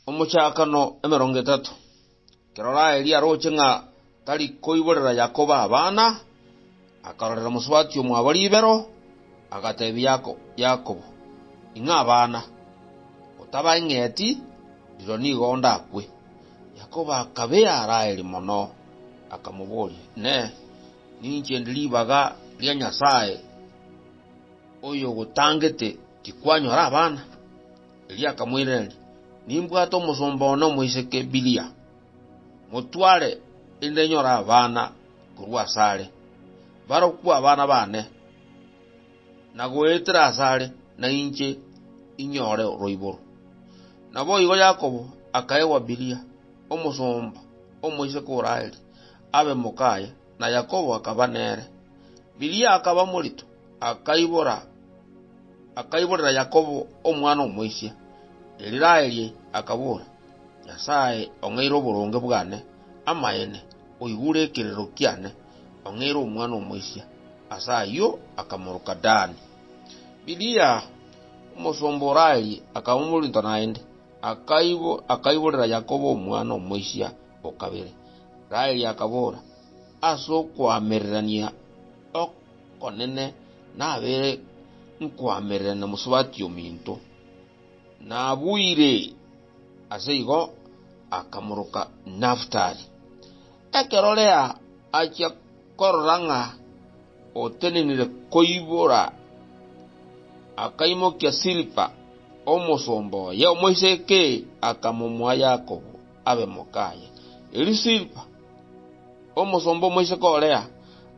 Omochakano emerongo etato. Ekero Raheli aroche ng'a tari koiborera Yakobo abana, akarorera mosubati omwabo ribero, agatebia Yakobo, Ing'a abana, otabang'eti, rirorio nigo ndakwe. Yakobo akabea Raheli mono, akamoboria, Inee! Ninche ndi ribaga ria Nyasae? oyogotangete tikwanyora abana? Erio akamoiraneria, Nimbwate omosomba one omoiseke Bilia. Motware, erinde nyore abana korwa asare. Barokwe abana baane, na goetera asare na inche inyore roiboro. Naboigo Yakobo akaegwa Bilia, omosomba omoiseke o Raheli, abe mokaye. na Yakobo akaba nere. Bilia akaba morito, akaibora, akaiborera Yakobo omwana omoisia. Riraeli akabora, Nyasae ong'eire oboronge bwane, amaene, oigure ekererero kiane, ong'eire omwana omoisia. Ase ayio akamoroka Dani. Bilia omosomba o Raeli akaba morito naende, akaibo, akaiborera Yakobo omwana omoisia o kabere. Raheli akabora, Ase okoamererania okonene nabeire nkoamererania mosubati ominto. Nabuire ase igo akamoroka Naftali. Ekero Lea achia korora ng'a otenenire koibora, akaimokia Silipa, omosomba oye omoiseke, akamomoa Yakobo. abe moka aye. Erio Silpa, omosomba omoiseke o Lea,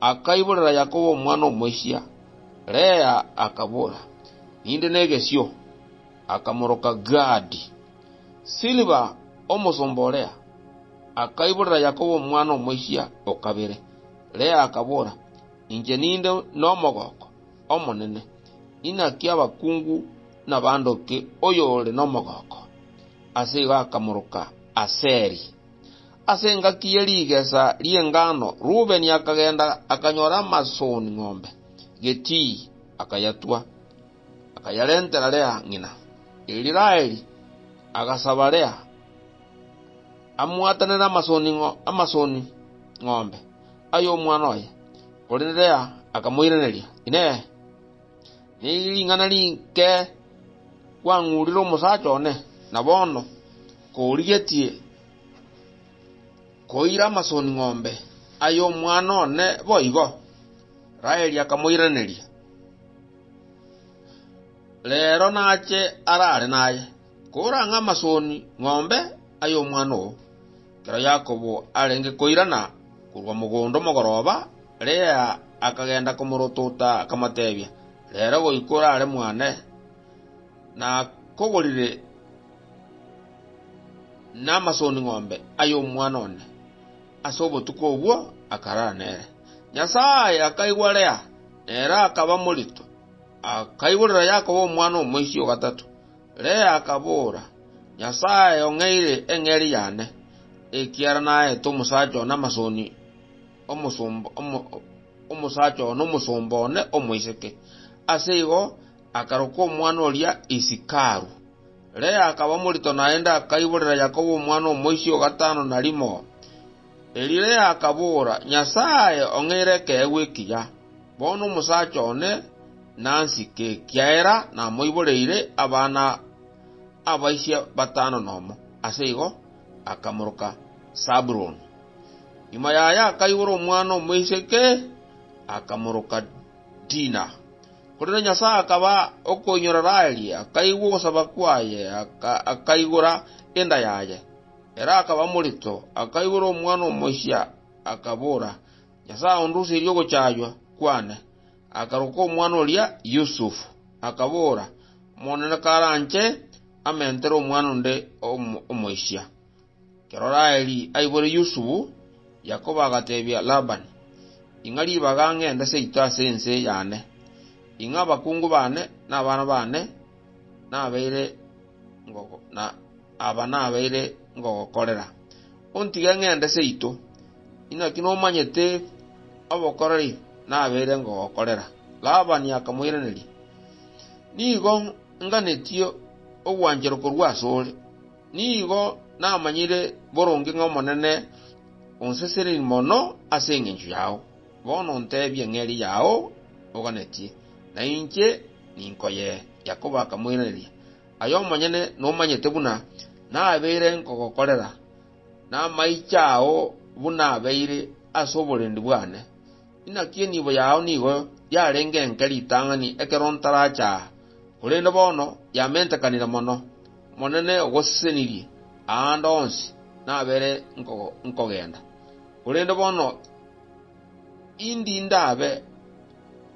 akaiborera Yakobo omwana omoisia. Lea akabora, Ninde negesio, akamoroka Gadi. Silpa, omosomba o Lea, akaiborera Yakobo omwana omoisia o kabere. Lea akabora, Inche ninde nomogoko omonene, inaki abakungu nabandoke oyore nomogoko. Ase igo akamoroka Aseri. Ase engaki ye rigesa ri'engano Reubeni akagenda akanyora amasoni ng'ombe getii, akayatua, akayarentera Lea ng'ina. Erio Raheli agasaba Lea amwatanere amasoni amasoni ng'ombe ay'omwana oye, korende Lea akamoiraneria, Inee! Neri ring'ana rinke kwang'urire omosacha one, na bono korigetie koira amasoni-ng'ombe ay'omwana one boigo? Raeli akamoiraneria, Reero nache arare naye. Korang'a amasoni ng'ombe ay'omwana oo, ekero Yakobo arenge koirana korwa mogondo omogoroba, Lea akagenda komorotota, akamotebia, Rero goika orare mwane, nakogorire namasoni ng'ombe ay'omwana one. Ase obotuko obwo akarara nere. Nyasae akaigwa Lea, na ere akaba morito, akaigorera Yakobo omwana omoisio o gatato. Lea akabora, Nyasae ong'eire eng'eria yane, ekiagera naete omosacha one amasoni, omosacha one omosomba one omoiseke. Ase igo akaroka omwana oria Isikaru. Lea akaba morito naende akaiborera Yakobo omwana omoisia o gatano na rimo. Eliya akabora, Nyasae ong'eire ekeegwa ekiya. Bono omosacha one nansike, ekiagera namoiboreire abana abaisia batano nomo. Ase igo akamoroka Sabuloni. Nyuma yaye akaibora omwana omoiseke, akamoroka Dina. Korende Nyasae akaba okoinyora Raheli, akaigwa ogosaba kwaye, akaigora enda yaye. Ere akaba morito, akaigora omwana omochia, akabora, Nyasae onduserie ogochaywa kwane. Akaroka omwana oria Yusufu, akabora, Omonene karanche amentere omwana onde omochia. Ekero Raheli aibore Yusufu, Yakobo agatebia Labani, Ing'a ribaga ngende seito ase ense yane. Ing'a abakungu bane na abana bane nabeire ngogokorera, ontige ng'ende seito. Inaki nomanyete obokoreri nabeire ngogokorera? Labani akamoiraneria, Nigo nganetie ogwanchero korwa asore. Nigo namanyire boronge ng'a Omonene onseseneri mono ase engencho yao. Bono ntebia ng'eria yao oganetie, na inche Ninko ye? Yakobo akamoiraneria, Ay'omonyene nomanyete buna nabeire nkogokorera, namaiche ao buna abeire ase oborendi bwane. Inaki enibo yao nigo yarenge enke ritang'ani ekero ntarache aa, korende bono yamentekanire mono. Omonene ogosesenirie aande onsi nabeire nkogenda, korende bono. Indinda abe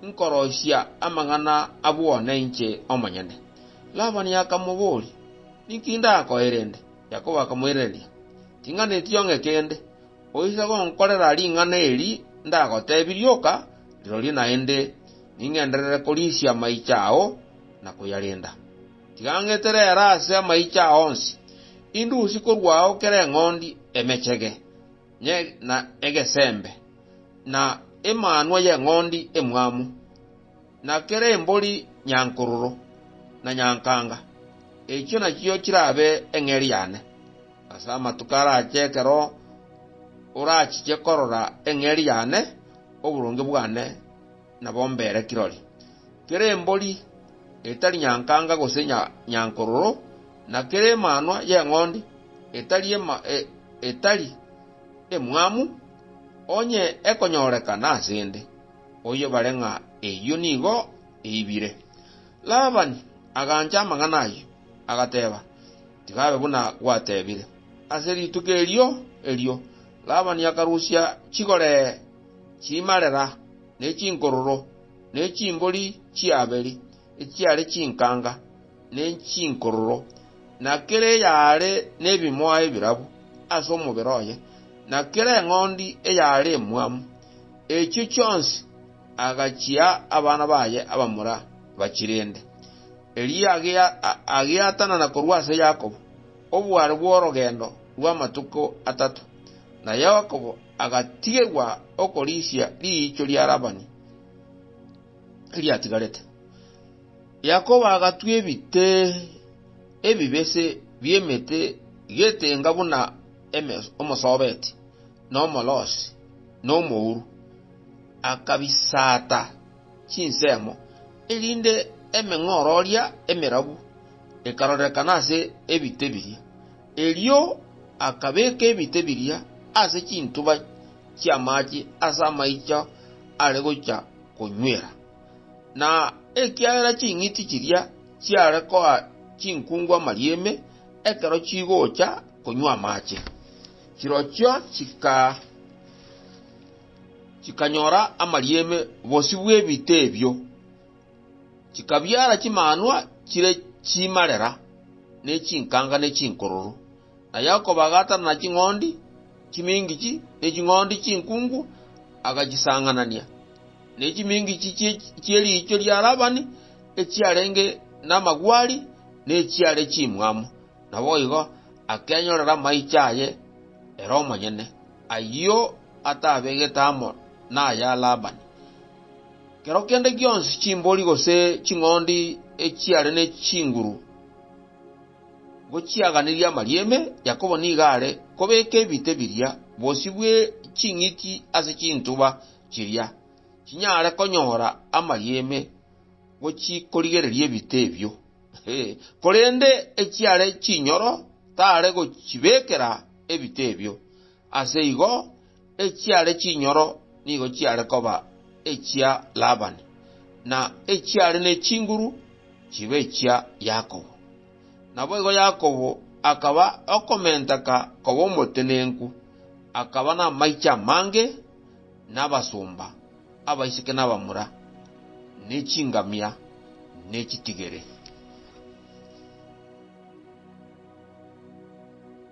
nkoroisia amang'ana abw'one inche omonyene. Labani akamobooria, Ninki ndakoe rende? Yakobo akamoiraneria, Ting'ana etiong'e kende, oise gonkorera ring'ana eri ndagotebirie oka, rirorio naende ning'enderere korisia amaicho ao na koyarinda. Tiga ng'etere ere ase amaicho ao onsi, indusi korwa ao kera eng'ondi emechege. na egesembe, na emanwa y'eng'ondi emwamu, na kera embori nyankororo na nyankanga, echio nachio chirabe eng'eria yane. Ase amatuko arache ekero orachiche korora eng'eria yane, oboronge bwane, nabo mbere kirori. Kera embori etari nyankanga gose nyankororo, na kera emanwa y'eng'ondi etari emwamu, onye ekonyorekana asende, oyebare ng'a eyio nigo eibire. Labani agancha amang'ana ayio, agateba, Tigabe buna gwatebire. Ase rituko erio erio Labani akarusia chigoree. chimarera, ne chinkororo, ne chimbori chi'Abeli, echiare chinkanga, ne chinkororo, na kera eyare nebimoa ebirabu ase omobere oye, na kera eng'ondi eyare emwamu, echio chionsi agachia abana baye abamura bachirende. Erio agiatanana korwa ase Yakobo, oboare bw'orogendo rw'amatuko atato, na Yakobo agatigerwa okorisia riicho ria Labani eriatigarete. Yakobo agatwa ebite ebibese bi'emete getenga buna eme- omosobeti, na omolosi, na omouru, akabisaata chinsemo, erinde emeng'ororia emerabu ekarorekana ase ebite biria. Erio akabeka ebite biria ase chintuba chi'amaache ase amaicho are gochia konywera. Na ekiagera ching'iti chiria chiare koa chinkungu amarieme ekero chigocha konywa amaache, chirochio chikanyora amarieme bosio bw'ebite ebio. chikabiara chimanwa chire chimarera, ne chinkanga ne chinkororo. Na Yakobo agaatanana ching'ondi chimingichi ne ching'ondi chinkungu, agachisang'anania, ne chimingichi chie riicho ria Labani echiarenge namagwari nechiare chimwamu, naboigo akenyorera amaicho aye ere omonyene, ayio atabegete amo naya Labani. Kero kende gionsi chimbori gose ching'ondi echiare ne chinguru ngochiaganirie amarieme, Yakobo nigo are kobeka ebite biria bosio bwe ching'iti ase chintuba chiria chinyare konyora amarieme gochikorigereria ebite ebio, korende echiare chinyoro tare gochibekera ebite ebio. Ase igo, echiare chinyoro nigo chiare koba echia Labani, na echiare ne chinguru chibe echia Yakobo. Naboigo Yakobo akaba okomenteka koba omotenenku, akaba namaiche amange, na abasomba, abaiseke na abamura, ne chingamia, ne chitigere.